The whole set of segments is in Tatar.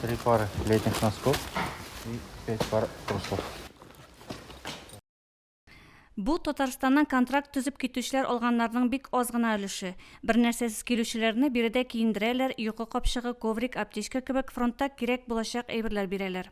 Три пары летних носков и пять пар трусов. Бу Татарстаннан контракт төзеп китүчеләр алганнарның бик аз гына өлеше. Бернәрсәсез килүчеләрне биредә киендерәләр, йокы капчыгы, коврик, аптечка кебек фронтта кирәк булачак әйберләр бирәләр.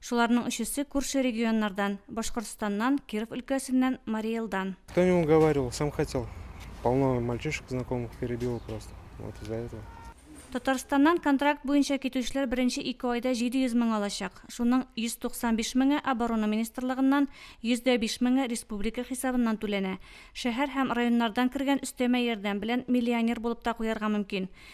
Шуларның өчесе күрше регионнардан, Башкортстаннан, Киров өлкәсеннән, Марий Элдан. Кто не уговаривал, сам хотел. Полно мальчишек знакомых перебило просто. Вот из-за этого. Татарстаннан контракт буенча китүчеләр беренче ике айда 700 мең алачак. Шуның 195 меңе Оборона министрлыгыннан, 100 дә биш меңе республика хисабыннан түләнә. Шәһәр һәм районнардан кергән өстәмә ярдәм белән миллионер булып та куярга мөмкин.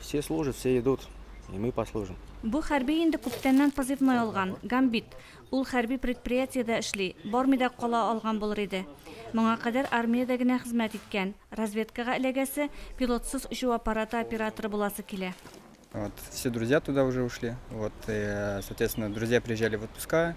Все служат, все идут, и мы послужим. Бу хәрби инде күптәннән позывной алган, Гамбит. Ул хәрби предприятиедә эшли, бармый да кала алган булыр иде. Моңа кадәр армиядә генә хезмәт иткән. Разведкага эләгәсе, пилотсыз очу аппараты операторы буласы килә. Вот, все друзья туда уже ушли. Вот, и, э, соответственно, друзья приезжали в отпуска,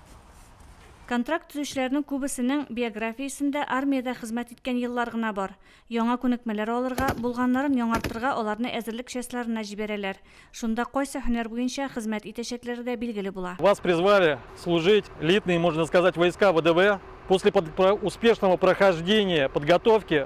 Контракт төзүчеләрнең күбесенең биографиясендә армиядә хезмәт иткән еллар гына бар. Яңа күнекмәләр алырга, булганнарын яңартырга аларны әзерлек частьларына җибәрәләр. Шунда кайсы һөнәр буенча хезмәт итәчәкләре дә билгеле була. Вас призвали служить в элитные, можно сказать, войска ВДВ. После успешного прохождения подготовки,